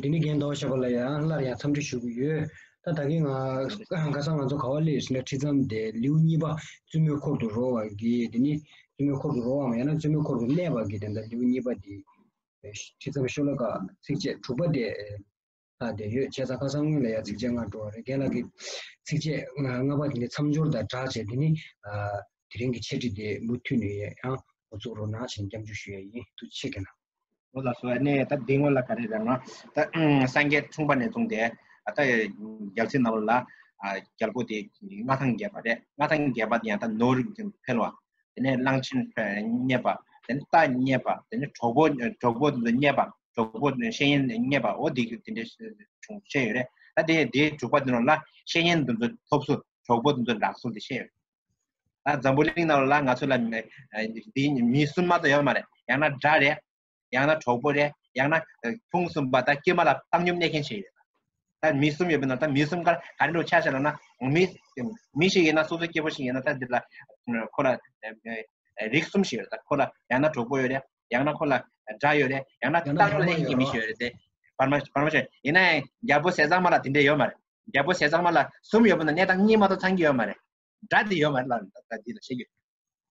དེ་ནས་རྒན་དོག་ཞེས་པ་ལ་ཡང་སླར་ཡང་འཚམས་འདྲི་ཞུ་གི་ཡོད། ད་ད་གིན་ང་ཁ་སང་ང་ཚོ་ག་བ་ལེར་ཟིན་ན་ཁྲི་ཙམ་དེ་ལེའུ་གཉིས་པ་བཙུན་མོའི་འཁོར་དུ་རོལ་བར་གྱིས་དེ་ནི་བཙུན་མོའི་འཁོར་དུ་རོལ་བའམ་ཡང་ན་བཙུན་མོའི་འཁོར་དུ་གནས་པར་གྱིས་དེ་འདྲ་ལེའུ་གཉིས་པ་དེ་ཁྲི་ཙམ་ཤོ་ལོ་ཀ་ཚིགས་བཅད་དྲུག་པ་སྟེ། ལྷག་བསྡད་ཡོད། ཁྱད་མཚར་ཁ་སང་སྔོན་ལ་ཡང་ཚིགས་བཅད་ལྔ་འགྲོ་བ་རེད་རྒན་ལགས་ཀྱིས་ཚིགས་བཅད་ལྔ་པ་དེ་ནི་མཚམས་སྦྱོར་དང་སྦྲགས་བྱས་ཏེ་ནི། དེ་རིང་གི་འཆད་ཁྲིད་འདི་མུ་མཐུད་ནས་ཡང་འགོ་བཙུགས་རོགས་གནང་བྱིན་འཇམ་འཇུག་ཞུ་ཡ་ཡིན་ཐུགས་ཆེ་གནང། ངོ་ལ་སོ་ནེ་ད་འདི་ངོ་ལ་ག་རེ་རེད་ང་ད་སངས་རྒྱས་འཁྲུངས་པ་ནས་བཟུང་སྟེ་ད་རྒྱལ་ཚིགས་རྣམས་ལ་རྒྱལ་པོ་དེ་མངའ་ཐང་རྒྱས་པ་རེད་མངའ་ཐང་རྒྱས་པ་དེ་ཡང་ད་ནོར་འཕེལ་བ་དེ་ནས་གླང་ཆེན་རྙེད་པ་དེ་ནས་རྟ་རྙེད་པ་དེ་ནས་གྲོགས་པོ་གྲོགས་པོ་རྙེད་པ་གྲོགས་པོ་ཤེས་ཡོན་རྙེད་པའོ་འདི་འདི་འདྲའི་བྱུང་བཤད་ཡོད་རེད་ད་དེ་དེ་དྲུག་པ་དེ་རྣམས་ལ་ཤེས་ཡོན་དུ་འདི་ཐོབ་སོ་གྲོགས་པོ་འདི་འདྲ་སོ་འདི་བཤད་ཡོད་ད་འཛམ་བུ་གླིང་རྣམས་ལ་ང་ཚོ་ལ་འདི་མི་སུན་མ་དང་ཡོད་མ་རེད་ཡང་ན་འདྲ་རེད་ཡང་ན་གྲོགས་པོ་རེད་ཡང་ན་ཕུང་གསུམ་པ་དང་དཀྱུས་མ་ལ་བཏང་སྙོམས་གནས་མཁན་ཞིག་ཡོད་ད་མི་གསུམ་ཡོད་པའི་ནང་ད་མི་གསུམ་ཀར་ག་རེ་ལུགས་ཆ་ཤས་ལ་ན་མི་མི་ཞིག་ཡིན་ན་སོ་སོའི་སྐྱེ་བོ་ཞིག་ཡིན་ན་ད་འདི་ལ་ཁོ་ལ་རིགས་གསུམ་ཞིག་ཡོད་ད་ཁོ་ལ་ཡང་ན་གྲོགས་པོ་ཡོད་རེད་ཡང་ན་ཁོ་ལ་དགྲ་ཡོད་རེད་ཡང་ན་བཏང་སྙོམས་གནས་མཁན་གྱི་མི་ཞིག་ཡོད་རེད་དེ་བར་མ་བར་མ་ཞིག་ཡིན་ན་རྒྱལ་པོ་ཟས་གཙང་མ་ལ་དེ་འདྲ་ཡོད་མ་རེད་རྒྱལ་པོ་ཟས་གཙང་མ་ལ་གསུམ་ཡོད་པའི་ནང་གནས་སྟངས་གཉིས་མ་གཏོགས་ཚང་གི་ཡོད་མ་རེད་དགྲ་དེ་ཡོད་མ་རེད་ལ་ད་འདི་ལ་ཤེས་རྒྱུ་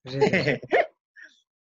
རེད་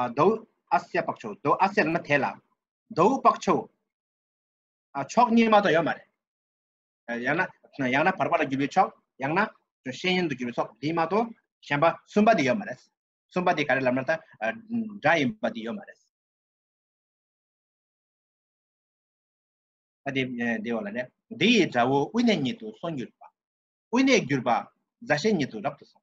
ཨ་དོ་ཨ་སེ་པག་ཆོ་དོ་ཨ་སེ་ལ་མ་ཐེ་ལ་དོ་པག་ཆོ་ཨ་ཆོག་གཉིས་མ་དོ་ཡོད་མ་རེད་ཡང་ན་ཡང་ན་བར་པ་ལ་རྒྱུ་བའི་ཆོག་ཡང་ན་ཤེས་ཡིན་དུ་རྒྱུ་བའི་ཆོག་དེ་མ་དོ་གཞན་པ་གསུམ་པ་དེ་ཡོད་མ་རེད་གསུམ་པ་དེ་ག་རེ་ལབ་ན་ད་འདྲ་ཡིན་པ་དེ་ཡོད་མ་རེད་དེ་དེ་ཡོད་ལ་རེད་དེ་ཡི་དགྲ་བོ་དབུས་ནས་ཉིད་དུ་སོང་གྱུར་པ་དབུས་ནས་གྱུར་པ་རྫ་ཤེས་ཉིད་དུ་རབ་ཏུ་སོང་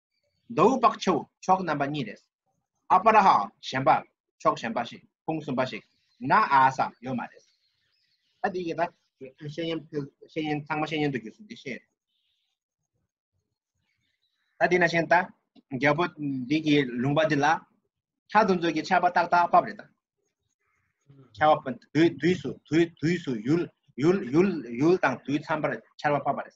མདོ་དབུས་དཔག་ཆེ་བོ་ཕྱོགས་རྣམ་པ་གཉིས་རེད། ཨ་པ་ར་ཧ་གཞན་པ་ཕྱོགས་གཞན་པ་ཞིག་ཕུང་གསུམ་པ་ཞིག་ན་ཨ་ས་ཡོད་མ་རེད། ད་འདི་གི་ད་ཤེས་ཡོན་ཤེས་ཡོན་ཚང་མ་ཤེས་ཡོན་དུ་གྱུར་སོང་འདི་ཤེས། ད་འདི་ན་ཤེས་ད་རྒྱལ་པོ་འདི་གི་ལུང་པ་འདི་ལ་ཁྱག་དུ་འཛུགས་ཀྱི་ཆར་པ་ཏག་ཏག་བབས་རེད་ད། ཁྱག་བབས་དུས་དུས་སུ་དུས་དུས་སུ་ཡུལ་ཡུལ་ཡུལ་ཡུལ་དང་དུས་འཚམས་པར་ཆར་པ་བབས་པ་རེད།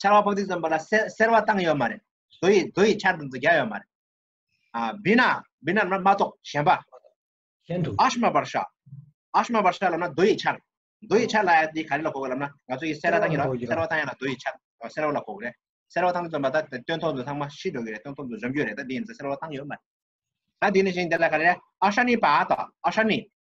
ཆར་བ་ཕོག་ཏིག་ཙམ་པ་ལ་སེར་བ་བཏང་ཡོད་མ་རེད་རྡོ་ཡི་རྡོ་ཡི་ཆར་དང་རྡོ་རྒྱ་ཡོད་མ་རེད་ཨ་བི་ན་བི་ན་མ་གཏོགས་གཞན་པ་གཞན་དུ་ཨ་ཤ་མ་བར་ཤ་ཨ་ཤ་མ་བར་ཤ་ལབ་ན་རྡོ་ཡི་ཆར་རྡོ་ཡི་ཆར་ལ་ཡ་དེ་ག་རེ་ལ་གོ་གི་ལབ་ན་ང་ཚོ་ཡི་སེར་བ་བཏང་ཡོད་ར་སེར་བ་བཏང་ཡོད་ལ་རྡོ་ཡི་ཆར་སེར་བ་ལ་གོ་གི་རེད་སེར་བ་བཏང་ཙམ་པ་ད་སྟོན་ཐོག་ཏུ་ཚང་མ་ཤི་འགྲོ་གི་རེད་སྟོན་ཐོག་ཏུ་འཇོམས་རྒྱུ་རེད་ད་དེ་ཡིན་ཟེར་སེར་བ་བཏང་ཡོད་མ་རེད་ད་དེ་ནི་བཞིན་དེ་ལ་ག་རེ་རེད་ཨ་ཤ་ནི་པ་ད་ཨ་ཤ་ནི་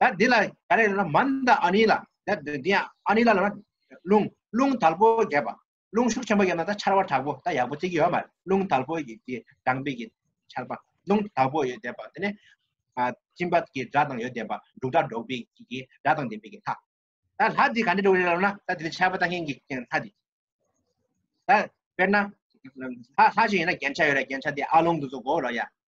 ད་དེ་ལ་ག་རེ་ལ་མན་ད་ཨ་ནི་ལ་ད་དེ་དེ་ཨ་ནི་ལ་ལ་རླུང་རླུང་དལ་པོ་རྒྱས་པ་རླུང་ཤུགས་ཆེན་པོ་ཡོད་ན་ད་ཆར་བ་དྲག་པོ་ད་ཡག་པོ་ཚིག་གི་ཡོད་མ་རླུང་དལ་པོ་ཡི་དེ་དྲང་པའི་གི་ཆར་པ་རླུང་དལ་པོ་ཡོད་དེ་པ་དེ་ནས་ཨ་ཅིན་པ་གི་སྒྲ་དང་ཡོད་དེ་པ་འབྲུག་སྒྲ་སྒྲོག་པའི་གི་སྒྲ་དང་དེ་པའི་གི་ལྷ་ད་ལྷ་དེ་ག་ནི་འགྲོ་རེ་ལ་ན་ད་དེ་ཆར་པ་ད་ངེན་གི་ལྷ་དེ་ད་དཔེར་ན་ལྷ་ལྷ་ཞིག་ཡིན་ན་རྒྱན་ཆ་ཡོད་ར་རྒྱན་ཆ་དེ་ཨ་ལུང་དུ་སོ་གོ་ར་ཡ་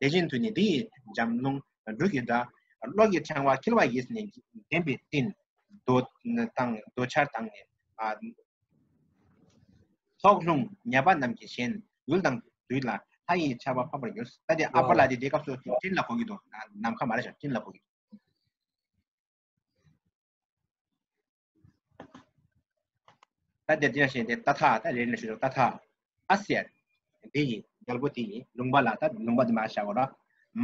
དེ་བཞིན་དུ་ནི་འདི་ཡི་འཇམ་རླུང་འབྲུག་གི་སྒྲ། གློག་གི་ཕྲེང་བ་འཁྱིལ་བ་ཡིས་ནི་བརྒྱན་པའི་སྤྲིན། རྡོ་དང་རྡོ་ཆར་དང་ནི། ལྷོག་རླུང་ཉེས་པ་རྣམས་ཀྱིས་གཞན། ཡུལ་དང་དུས་ལ་ལྷ་ཡི་ཆར་བ་ཕམ་པར་འགྱུར། ད་དེ་ཨ་བྷ་ལ་དེ་དེའི་སྐབས་སུ་སྤྲིན་ལ་གོ་གི་འདུག་ནམ་མཁའ་མ་རེད་བཞག་སྤྲིན་ལ་གོ་གི། ད་དེ་དེ་ཞེས་དེ་ད་ཐ་ད་རེ་ནས་ཞུ་ད་ཐ་ཨ་སེ་དེ་ཡིན་རྒྱལ་པོ་དེ་ཡིན་ལུང་པ་ལ་ད་ལུང་པ་དེ་མ་བྱ་གོ་ར་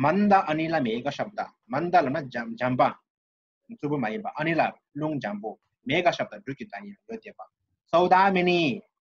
མ་འདའ་ཨ་ནི་ལ་མེ་ག་ཤབ་ད་མ་འདའ་ལ་ན་འཇམ་འཇམ་པ་རྩུབ་པོ་མ་ཡིན་པ་ཨ་ནི་ལ་རླུང་འཇམ་པོ་མེ་ག་ཤབ་ད་སྦྲུལ་གྱི་ད་ཡིན་ཡོད་དེ་པ་སོའུ་ད་མེ་ནི་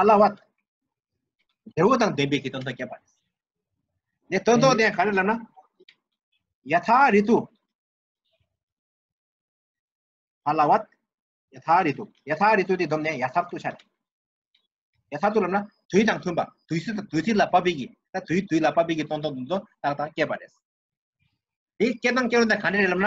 ཨ་ལ་བ་དེ་བོ་དང་ལྡན་པའི་གི་དོན་དང་བསྐྱེད་པ་ནས་དོན་དོ་དེ་ག་རེ་ལ་ན་ཡ་ཐ་རི་དུ་ཨ་ལ་བ་ཡ་ཐ་རི་དུ་ཡ་ཐ་རི་དུ་དེ་དོན་ནས་ཡ་ཐ་དུ་ཆ་རེ་ཡ་ཐ་དུ་ལ་ན་དུས་དང་མཐུན་པ་དུས་སུ་དུས་སུ་ལ་པ་པི་གི་ད་དུས་དུས་ལ་པ་པི་གི་དོན་དོན་དོན་དོན་དང་དང་བསྐྱེད་པ་རེ་དེ་སྐྱེད་དང་སྐྱེད་རུང་དང་ག་རེ་ལ་ན་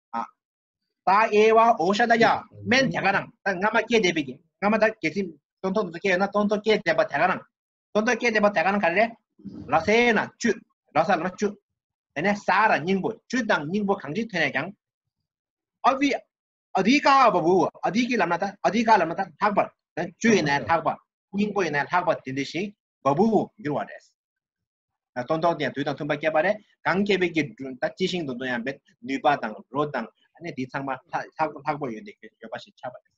ཨ་ད་ཨེ་བ་ཨོ་ཤ་ད་ཡ་མན་དེ་ག་རང་ད་སྔ་མ་སྐྱེས་བསྡད་པའི་གི་སྔ་མ་ད་གལ་སྲིད་སྟོན་ཐོག་ཏུ་སྐྱེས་ཡོད་ན་སྟོན་ཐོག་སྐྱེས་བསྡད་པ་དེ་ག་རང་སྟོན་ཐོག་སྐྱེས་བསྡད་པ་དེ་ག་རང་ག་རེ་རེད་ལ་སེ་ན་བཅུ་ལ་ས་ལ་མ་བཅུ་དེ་ནས་ས་ར་སྙིང་པོ་བཅུ་དང་སྙིང་པོ་གང་ཅི་ཐོན་ནས་ཀྱང་ཨ་བི་ཨ་དི་ཀ་བ་བུ་ཨ་དི་ཀི་ལམ་ན་ད་ཨ་དི་ཀ་ལམ་ན་ད་ལྷག་པར་བཅུ་ཡིན་ན་ལྷག་པ་སྙིང་པོ་ཡིན་ན་ལྷག་པ་དེ་འདི་ཞིག་བ་བུ་འགྱུར་བ་རེད་སྟོན་ཐོག་དེ་ཡང་དུས་དང་མཐུན་པ་བསྐྱེད་པ་རེད་གང་བསྐྱེད་པའི་དགེ་འདུན་ད་ཅི་ཞིང་དུ་འདོན་ཡང་འབད་ནུས་པ་དང་རོ་དང་གནས་འདི་ཚང་མ་ལྷག་པོ་ཡོད་དེ་ཡོད་པ་ཞིག་ཆགས་པ་རེད།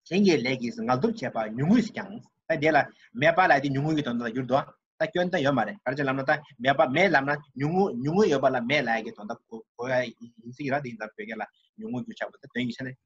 གཞན་གྱི་ལས་ཀྱིས་ངལ་དུབ་བྱས་པ་ཉུང་ངུས་སུ་ཀྱང་ད་དེ་ལ་མེད་པ་ལ་དེ་ཉུང་ངུ་ཡི་དོན་དག་ལ་འགྱུར་དོ། ད་སྐྱོན་དང་ཡོད་མ་རེད་ག་རེ་ཅི་ལབ་ན་ད་མེད་པ་མེད་ལབ་ན་ཉུང་ངུ་ཉུང་ངུ་ཡོད་པ་ལ་མེད་ལ་ཡ་གི་དོན་དག་གོ་ཡ་ཡིན་སྲིད་ཀྱི་ར་དེ་ཡིན་ད་བོད་སྐད་ལ་ཉུང་ངུ་རྒྱུ་ཆགས་པ་ད་དོན་གྱི་ཆ་ནས་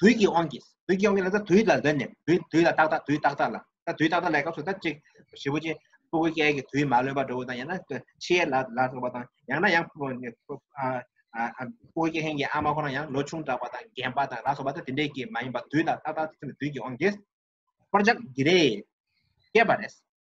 དུས་ཀྱི་དབང་གིས་དུས་ཀྱི་དབང་གིས་ལ་ད་དུས་ལ་འདོད་ནས་དུས་དུས་ལ་ཏག་ཏག་དུས་ཏག་ཏག་ལ་ད་དུས་ཏག་ཏག་ལའི་སྐབས་སུ་ད་གཅིག་བྱེད་པོ་ཅན་སྤུ་གུ་ཀའི་གི་དུས་མ་ལོན་པར་འགྲོ་བ་དང་ཡང་ན་ཕྱི་ཡས་ལ་ལ་སོགས་པ་དང་ཡང་ན་ཡང་སྤུ་གུ་ཀའི་ཧན་གྱི་ཨ་མ་ཁོ་ན་ཡང་ལོ་ཆུང་དྲགས་པ་དང་རྒན་པ་དང་ལ་སོགས་པ་ད་དེ་འདྲའི་གི་མ་ཡིན་པར་དུས་ལ་ཏག་ཏག་དུས་ཀྱི་དབང་གིས་འཁོར་ཅག་འདི་རེས་བསྐྱེད་པ་རེད།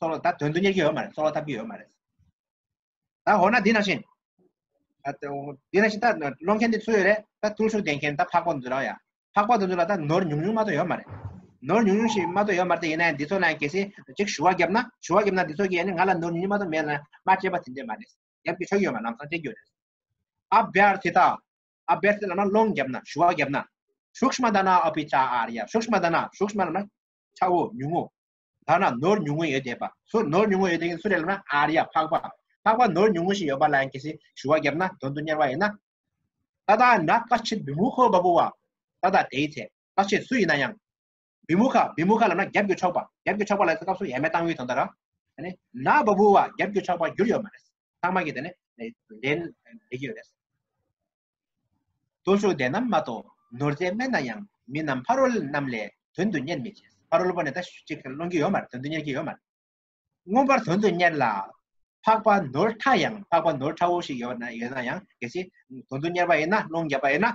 སོགས་ལ་ད་དོན་དུ་གཉེར་གྱི་ཡོད་མ་རེད་སོགས་ལ་བཏབ་ཀྱི་ཡོད་མ་རེད་ད་འོ་ན་འདི་ནང་བཞིན་འདི་ནང་བཞིན་ད་སློང་མཁན་དེ་ཚུད་རེད་ད་ཐུགས་ཤུགས་ལྡན་མཁན་ད་འཕགས་པ་འདུ་རང་ཡ་འཕགས་པ་འདུ་འདུ་ལ་ད་ནོར་ཉུང་ཉུང་མ་གཏོགས་ཡོད་མ་རེད་ནོར་ཉུང་ཉུང་ཞིག་མ་གཏོགས་ཡོད་མ་རེད་ཡིན་ན་འདི་ཚོ་ལ་གལ་སྲིད་གཅིག་ཞུ་བ་བརྒྱབ་ན་ཞུ་བ་བརྒྱབ་ན་འདི་ཚོ་གིས་ང་ལ་ནོར་ཉུང་ཉུང་མ་གཏོགས་མེད་ན་མ་སྤྱད་པ་དེ་འདྲས་མ་རེད་བརྒྱབ་ཀྱི་ཆོག་ཡོད་མ་ལམ་སང་སྤྱད་རྒྱུ་རེད་ཨ་བེར་དེ་དང་ཨ་བེར་དེ་ལ་ན་སློང་བརྒྱབ་ན་ཞུ་བ་བརྒྱབ་ན་ཤུགས་མ་ད་ན་ཨ་བི་ཅཱ་ཨར་ཡ་ཤུགས་མ་ད་ན་ཤུགས་མ་ལ་ན་ཆ་བོ་ཉུང་ངུ་ཐ་ན་ནོར་ཉུང་ངུ་ཡོད་དེ་པ་སུ་ནོར་ཉུང་ངུ་ཡོད་དེ་གིན་སུ་རེད་ལབ་ན་ཨ་རི་ཡ་འཕགས་པ་འཕགས་པ་ནོར་ཉུང་ངུ་ཞིག་ཡོད་པ་ལ་ཡང་གལ་སྲིད་ཞུ་བ་བརྒྱབ་ན་དོན་དུ་གཉེར་བ་ཡིན་ན། ད་ལྟ་ན་བཀའ་སྤྱི་བི་མུ་ཁོ་བ་པུ་བ། ད་ལྟ་དེའི་ཚེ་བཀའ་སྤྱི་སུ་ཡིན་ན་ཡང། བི་མུ་ཁ་བི་མུ་ཁ་ལབ་ན་རྒྱབ་སྐྱོར་ཆོག་པ་རྒྱབ་སྐྱོར་ཆོག་པ་ལ་ཡང་སྐབས་སུ་ཡ་མེད་ཏང་ཨུའི་དོན་དག་ར། ཨ་ནི་ན་བ་བུ་བ་རྒྱབ་སྐྱོར་ཆོག་པ་འགྱུར་ཡོད་མ་རེད། ཚང་མ་གིས་དེ་ནི་ལེན་ལེགས་ཡོད་རེད། སྟོན་ཤུགས་ལྡན་ནམ་མ་གཏོགས་ནོར་རྫས་དམན་ན་ཡང་མི་རྣམས་ཕ་རོལ་རྣམས་ལས་དོན་དུ་གཉེར་མི་བྱེད། ཕ་རོལ་པོ་ནི་ད་ཅིག་སློང་གི་ཡོད་མ་རེད་དོན་དུ་གཉེར་གྱི་ཡོད་མ་རེད། མངོན་པར་དོན་དུ་གཉེར་ལ། འཕགས་པ་ནོར་ཕྲ་ཡང་འཕགས་པ་ནོར་ཕྲ་བོ་ཞིག་ཡོད་ན་ཡང་གལ་སྲིད་དོན་དུ་གཉེར་བ་ཡིན་ན་སློང་བརྒྱབ་པ་ཡིན་ན་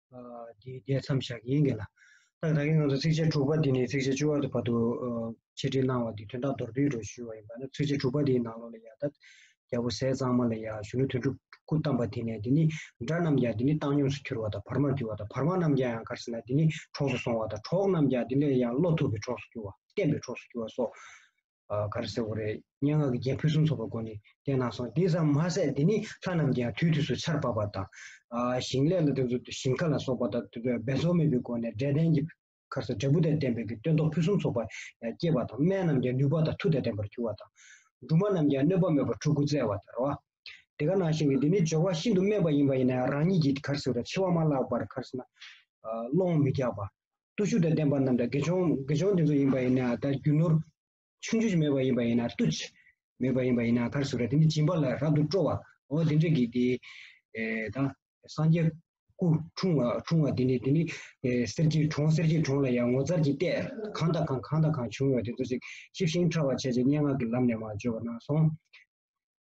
དེའི་བརྡས་མཚམས་བཞག་གིན་གི་ལ། ཏག་ཏག་གི་ངང་དུ་ཚིགས་བཅད་དྲུག་པ་འདི་ནས་ཚིགས་བཅད་བཅུ་བར་དུ་བར་དུ་ཕྱེ་འབྲི་གནང་བ་འདི་དོན་དག་མདོར་བསྡུས་རུ་ཞུས་བ་ཡིན་པ་ན་ཚིགས་བཅད་དྲུག་པ་འདིའི་ནང་ལོ་ལ་ཡར་ད་རྒྱལ་པོ་ཟས་གཙང་མ་ལ་ཡར་གཞོན་ནུ་དོན་དྲུག་སྐུ་བལྟམས་པ་དེ་ནས་འདི་ནི་དགྲ་རྣམས་ཀྱང་འདི་ནི་བཏང་སྙོམས་སུ་གྱུར་བ་དང་བར་མར་གྱུར་བ་དང་བར་མ་རྣམས་ཀྱང་ཡང་གར་སེར་ན་འདི་ནི་གྲོགས་སུ་སོང་བ་དང་གྲོགས་རྣམས་ཀྱང་འདི་ནས་ཡང་བློ་ཐུབ་པའི་གྲོགས་སུ་གྱུར་བ་བསྟན་པའི་གྲོགས་སུ་གྱུར་བ་སོགས། ག་རེ་ཟེར་བ་རེད་སྙན་ངག་གི་རྒྱན་ཕུན་སུམ་ཚོགས་པ་སྒོ་ནས་བསྟན་གནང་སོང་དེ་ཙམ་མ་ཟད་འདི་ནི་ལྷ་རྣམས་ཀྱིའང་དུས་དུས་སུ་ཆར་འབབ་པ་དང། ཞིང་ལས་ལ་དེ་ཚོ་ཞིང་ཁ་ལ་སོགས་པ་དང་འབད་རྩོལ་མེད་པའི་སྒོ་ནས་འབྲས་ལྡན་གྱི་ཁར་ས་འབྲས་བུ་དང་ལྡན་པའི་གྱི་སྟོན་ཐོག་ཕུན་སུམ་ཚོགས་པ་སྐྱེས་པ་དང་སྨན་རྣམས་ཀྱང་ནུས་པ་དང་མཐུ་དང་ལྡན་པར་གྱུར་བ་དང། སྦྲུམ་མ་རྣམས་ཀྱང་གནོད་པ་མེད་པར་ཕྲུ་གུ་བཙས་བ་དང་ར་བ། དེ་ག་ནང་བཞིན་གྱི་འདི་ནི་སྦྱོར་བ་ཤིན་ཏུ་དམན་པ་ཡིན་པ་ཡིན་ན་ཡང་རང་ཉིད་ཀྱིས་གར་ཟེར་བ་དང་ཆེ་བ་མ་བཀླགས་པར་གར་ཟེར་ན། སློང་མི་རྒྱག་པ། བརྟུལ་ཞུགས་དང་ལྡན་པ་རྣམས་དང་དགེ་སྦྱོང་དགེ་སྦྱོང་དེ་ཚོ་ཡིན་པ་ཡིན་ན་དང་རྒྱུ་ནོར། ཆུང་ཆུང་མེད་པ་ཡིན་པ་ཡིན་ན་བརྟུལ། མེད་པ་ཡིན་པ་ཡིན་ན་གར་ཟུག་ར་དེ་ནི་སྦྱིན་པ་ལ་རབ་ཏུ་སྤྲོ་བའོ་དེ་འདྲ་གི་དེ། དང། སངས་རྒྱས། སྐུ། འཁྲུངས། འཁྲུངས་བ་དེ་ནི་དེ་ནི། གསེར་གྱི་གྲོང་གསེར་གྱི་གྲོང་ལ་ཡང་ངོ་མཚར་གྱི་ལྟས་གང་དང་གང་གང་དང་གང་བྱུང་བའི་དེ་ཚོ་ཞིག་ཤེས་ཤིང་ཕྲ་བར་བྱས་ཀྱི་སྙན་ངག་གི་ལམ་ནས་མ་བརྗོད་པ་ན་སོང།